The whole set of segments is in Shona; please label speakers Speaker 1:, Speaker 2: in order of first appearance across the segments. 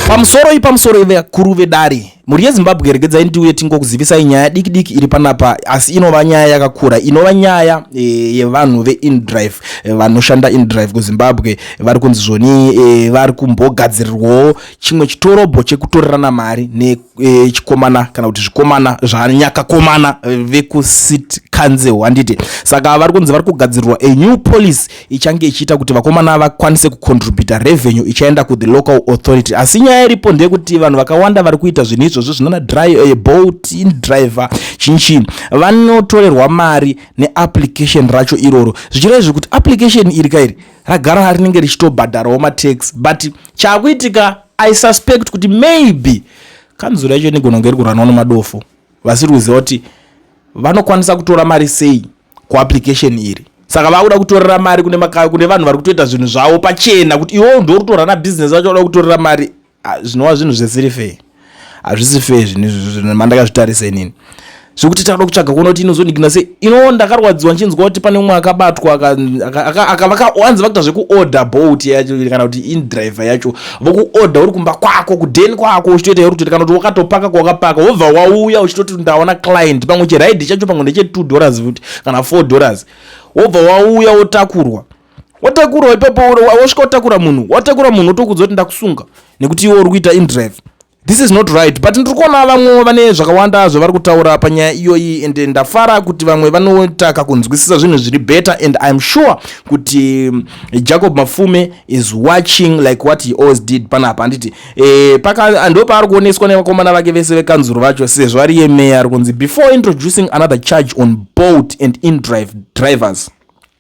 Speaker 1: pamusoroi pamusoroi
Speaker 2: vakuru vedare mhuri yezimbabwe regedzai ndiuye tingokuzivisai nyaya diki diki iri panapa asi inova nyaya yakakura inova nyaya e, yevanhu veindrive e, vanoshanda indrive kuzimbabwe vari kunzi zvoni e, vari kumbogadzirirwawo chimwe chitorobho chekutorerana mari ne e, chikomana kana kuti zvikomana zvanyakakomana eh, vekucity council handiti saka vari kunzi vari kugadzirwa a new policy ichange ichiita kuti vakomana vakwanise kucontributa revenue ichaenda kuthe local authority asi nyaya iripo ndeyekuti vanhu vakawanda vari kuita zvinhu izvozvo zvinana eh, bolt indriver chinchii vanotorerwa mari neapplication racho iroro zvichireva zvekuti application iri kairi ragara rinenge richitobhadharawo matax but chakuitika I suspect kuti maybe kanzura yacho inigona kunge iri kuranwa nemadofo vasiri kuziva kuti vanokwanisa kutora mari sei kuapplication iri saka vakuda kutorera mari kune, maka, kune vanhu vari kutoita zvinhu zvavo pachena kuti iwo ndo rutora na business vacho vada kutorera mari ah, zvinova zvinhu zvisiri fee hazvisi fee zvinhu izvi zvinhu mandakazvitarisa inini zvekuti tauda kutsvaga kuona kuti inozonikina sei inowo ndakarwadziwa ndichinzwa kuti pane umwe akabatwa akavanzi vakuita zvekuorder boat yacho kana kuti indriver yacho vokuorder uri kumba kwako kudeni kwako uchitoita yori kutoita kana kuti wakatopaka kwawakapaka wobva wauya uchitoti ndaona client pamwe chiraidi chacho pamwe ndeche two dollars futi kana four dollars wobva wauya wotakurwa wotakurwa ipapo wosvika wotakura munhu watakura munhu wotokuudza kuti ndakusunga nekuti iwe uri kuita indriver This is not right but ndiri kuona vamwe vane zvakawanda zvavari kutaura panyaya iyoyi and ndafara kuti vamwe vanoita kakunzwisisa zvinhu zviri better and iam sure kuti mm, jacob mafume is watching like what he always did panapa handiti e, paka ndo paari kuoneswa nevakomana vake vese vekanzuro vacho sezvo ari yemeya ari kunzi before introducing another charge on boat and indrive drivers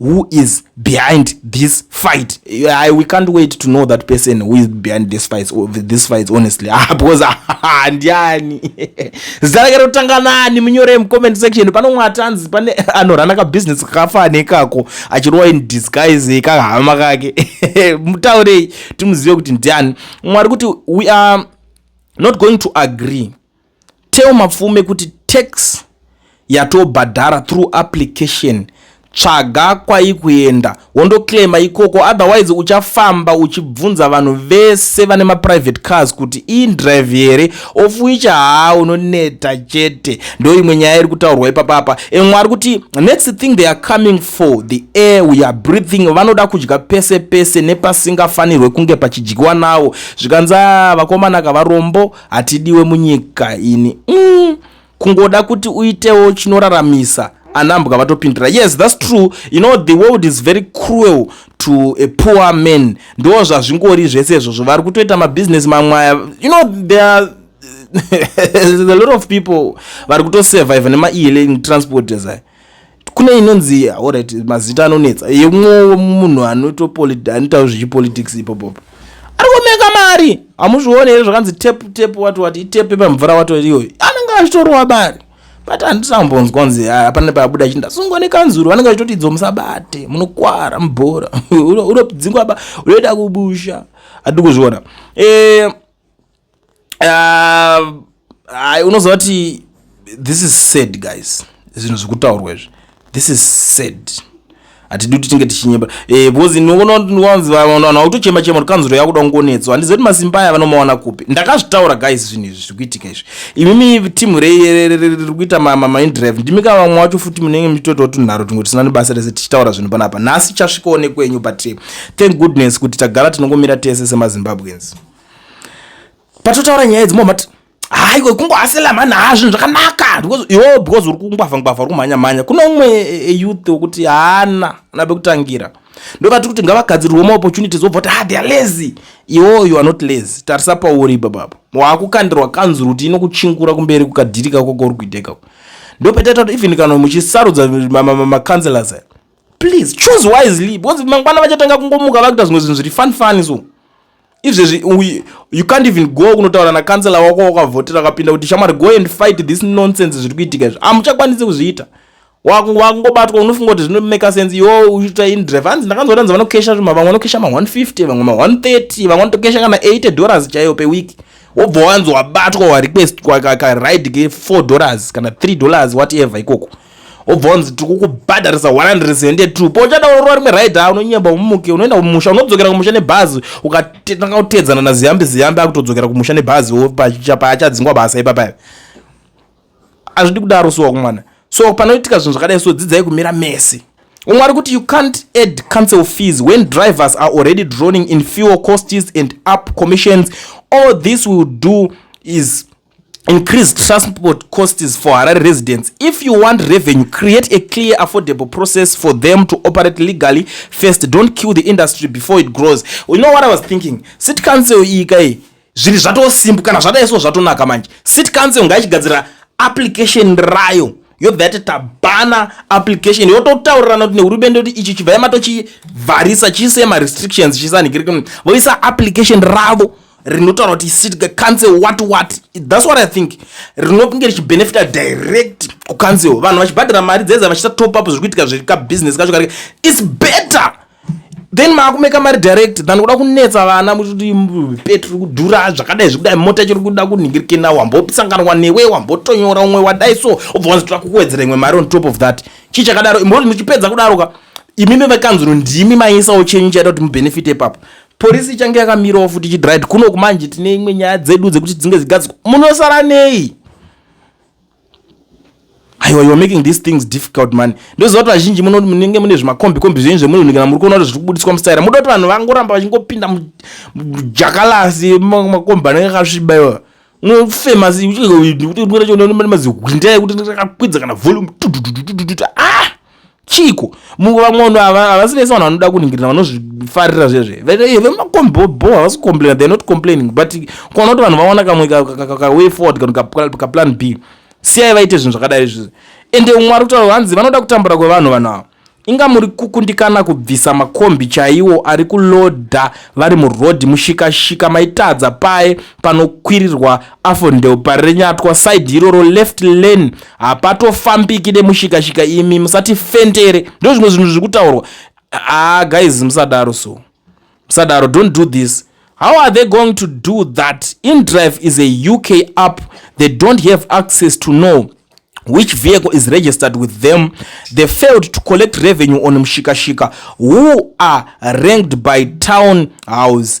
Speaker 2: who is behind this fight I, we can't wait to know that person who is behind this fight or this fight honestly ah, because handiani zita rake rotanga nani munyore mucomment section pano mwatanzi pane anorana kabusiness kakafa nekako achirowa in disguise kahama kake mutaurei timuzive kuti ndiani mwari kuti we are not going to agree Tell Mapfume kuti tax yatobhadhara through application tsvaga kwaikuenda wondoclaima ikoko otherwise uchafamba uchibvunza vanhu vese vane maprivate cars kuti indrive here of which haa unoneta chete ndo imwe nyaya iri kutaurwa ipapapa emwe ari kuti next thing they are coming for the air we are breathing vanoda kudya pese pese nepasingafanirwe kunge pachidyiwa nawo zvikanzi a vakomana kavarombo hatidiwe munyika ini mm, kungoda kuti uitewo chinoraramisa anambwa vatopindura yes thats true you know the world is very cruel to a poor man ndo zvazvingori zvese izvozvo vari kutoita mabhizinesi mamwaya you know there are a lot of people vari kutosurvive nemaeling transport ezai kune inonzi orit mazita anonetsa yemwowo munhu anoitawo zvechipolitics ipopopo ari kumeka mari hamuzvione here zvakanzi tep tep wati wati itepe pamvura wato iyoyo anenge achitorwa mari but handisambonzwa nzi hapana pabuda chinda sungwa nekanzuru vanenge vachitoti idzo musabate munokwara mubhora unodzingwa unoita kubusha hatidi kuzviona eh, uh, unoziva kuti this is sad guys zvinhu zvekutaurwa izvi this is sad hatidi kuti tinge tichinyeba eh, because noononzivavanhu vautochema chema kuti kanzuro yakuda kungonetswa handiziva kuti masimba aya vanomawana kupi ndakazvitaura guys zvinhu izvi zviri kuitika izvi imimi timu riri kuita mamindrive ndimi ka vamwe wacho futi munenge muchitoitawo tunharo tumwe tisina nebasa rese tichitaura zvinhu panapa nhasi chasvikawo nekwenyu but eh, thank goodness kuti tagara tinongomira tese semazimbabweans patotaura nyaya idzi momati haiwe kungohasela mhani haa zvinhu zvakanaka yo because uri kungwavha ngwavha uri kumhanya mhanya kune umwe eyouth e, e wekuti haana ana bekutangira ndokati kuti ngavagadzirwe ma opportunities wobva kuti ha ah, theyare lazy iwo you are not lazy tarisa pauri ipapapo waakukandirwa kanzuru kuti inokuchingura kumberi kukadhiri kako kauri kuita ikako ndopetaita kuti even kana muchisarudza macounselors aya please choose wisely because mangwana vachatanga kungomuka vakuita zvimwe zvinhu zviri fun fun so izvezvi you can't even go kunotaura nakansela wako wakavhotera akapinda kuti shamwari go and fight this nonsense zviri kuitika izvi hamuchakwanisi kuzviita wakungobatwa unofunga kuti zvinomeka sense iwo uchiita indrive hanzi ndakanzotanza vanokesha zvima vamwe vanokesha ma 150 vamwe ma 130 vamwe vanotokesha kana 80 dollars chaiyo peweek wobva wanzi wabatwa warequestwa karide ke 4 dollars kana 3 dollars whatever ikoko wobva wanzi tiri kukubhadharisa 172 pauchada urora rimwe raidi a unonyemba umuke unoenda kumusha unodzokera kumusha nebhazi ukatanga kuteedzana naziyambi ziyambi akutodzokera kumusha nebhazi paachadzingwa basa ipapayo azvidi kudaro suwa kumwana so panoitika zvinhu zvakadai so dzidzai kumira mese umwe ari kuti you can't add council fees when drivers are already droning in fuel costs and up commissions all this will do is increase transport costs for harare residents if you want revenue create a clear affordable process for them to operate legally first don't kill the industry before it grows you know what i was thinking city council iyi kai zvinhu zvatosimbu kana zvadaiso zvatonaka manje city council ngaichigadzira application rayo yobvati tabhana application yototaurirana kuti nehurumende kuti ichi chibva yamatochivharisa chiise marestrictions chisanhikirikn voisa application ravo rinotaura kuti sitka cancel what what thats what i think rinokunge richibenefita direct kucancel vanhu vachibhadhara mari dzedza vachita top up zviri kuitika zviri kabusiness kacho karike its better then maakumeka mari direct than kuda kunetsa vana muchiti petri kudhura zvakadai zvekudai mota chiri kuda kunhingirikena wambosanganwa newe wambotonyora umwe wadai so obva wanzitira kukuwedzera imwe mari on top of that chii chakadaro imboti muchipedza kudaroka imimi vekanzuro ndimi maisawo chenyu chaita kuti mubenefite ipapo Police ichange yakamirawo futi ichidrive kuno kumanje tine imwe nyaya dzedu dzekuti dzinge dzigadzwa munosara nei aiwa you're making these things difficult man ndoziva kuti vazhinji muno munenge mune zvimakombi kombi zvenyu zvemunhu kana muri kuona kuti zviri kubudiswa musaira muda kuti vanhu vangoramba vachingopinda mujakalasi makombi anenge akasviba iwa unofema mazihwinda ekuti ndakakwidza kana volume ah chiiko mumwe vamwe vanhu ava havasi vese vanhu vanoda kuningirira vanozvifarira zvezve vemakombobo havasi complaina they're not complaining but kuona kuti vanhu vawana kamwe kaway forward kana kaplan b siyai vaite zvinhu zvakadai izvizvi ende umwe ari kutaura hanzi vanoda kutambura kwevanhu vanhu ava inga muri kukundikana kubvisa makombi chaiwo ari kuloda vari murodhi mushikashika maitadza paye panokwirirwa Afo ndeupari renyatwa side iroro left lane hapatofambiki nemushikashika imi musati fentere ndozvimwe zvinhu zviri kutaurwa ah guys musadaro so musadaro don't do this how are they going to do that indrive is a uk app they don't have access to know which vehicle is registered with them they failed to collect revenue on mshikashika who are ranked by town house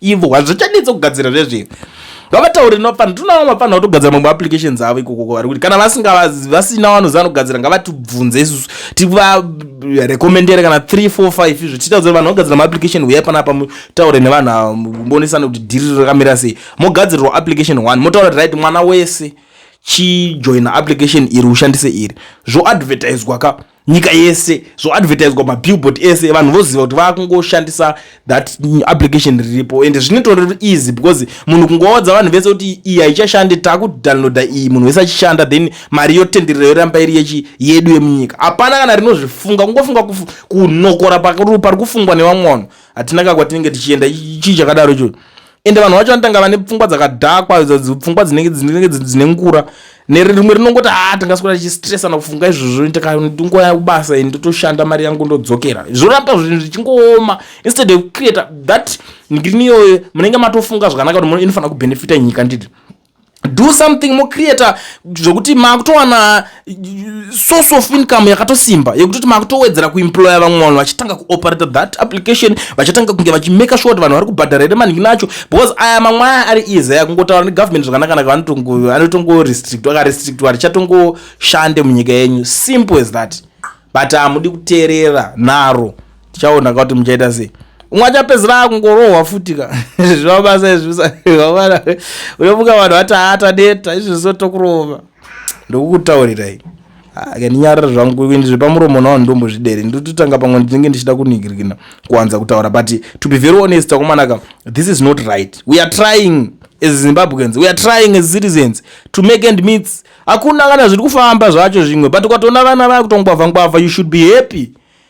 Speaker 2: ivo hazvichadii dzokugadzira zvezviyo vavataure nopfana ndinoona vanofanira kutogadzira mamwe applications avo ikokoko vari kuti kana vasingavazi vasina vanoziva anogadzira ngavatibvunze isusu tivarekomendere kana 3 4 5 izvo tiita kuti vanhu vagadzira maapplication huyai pana apa mutaure nevanhu ava mubonisana kuti dhiri rakamira sei mogadzirirwa application one motaura kuti right mwana wese chijoina application iri ushandise iri zvoadvertiswa ka nyika yese zvoadvertiswa mabillboard ese vanhu voziva kuti vakungoshandisa that application riripo and zvinotori easy because munhu kungoodza vanhu vese kuti iyi haichashande takudownloada iyi munhu wese achishanda then mari yotenderera yoramba iri yechi yedu yemunyika hapana kana rinozvifunga kungofunga kunokora pari kufungwa nevamwe vanhu hatina ka kwatinenge tichienda chii chakadaro ichocho ende vanhu vacho vanotanga vane pfungwa dzakadhakwa pfungwa dzinenge dzinenge dzine ngura nerimwe rinongoti haa ah, tingaswera tichistresa nakufunga izvozvo ndikandingoya kubasa ini ndotoshanda mari yangu ndodzokera zvoramba zvinhu zvichingooma instead of create that ngini iyoyo munenge matofunga zvakanaka kuti inofanira kubenefita nyika nditi do something mocreata zvokuti maakutowana uh, source of income yakatosimba yekutoti maakutowedzera kuemploya vamwe vanhu vachitanga kuoperata that application vachatanga kunge vachimaka sure kuti vanhu vari kubhadhara here maningi nacho because aya mamwe aya ari easy aya kungotaura negovernment zvakanakanaka anotongorestrictwa akarestrictwa richatongoshande munyika yenyu simple as that but hamudi kuteerera naro tichaona ka kuti muchaita sei umwe achapedzera akungorohwa futi ka zviva basa izviaana unomuka vanhu vati haata neta izvi zviso tokurova ndokukutaurirai akandinyarira zvangu ini zvepamuromo nawo ndombozvidere ndototanga pamwe ndinenge ndichida kunigirigina kuwanza kutaura but to be very honest akomanaka this is not right we are trying as zimbabweans we are trying as citizens to make end meets hakuna kana zviri kufamba zvacho zvimwe but ukatoona vana vakutongwavha ngwavha you should be happy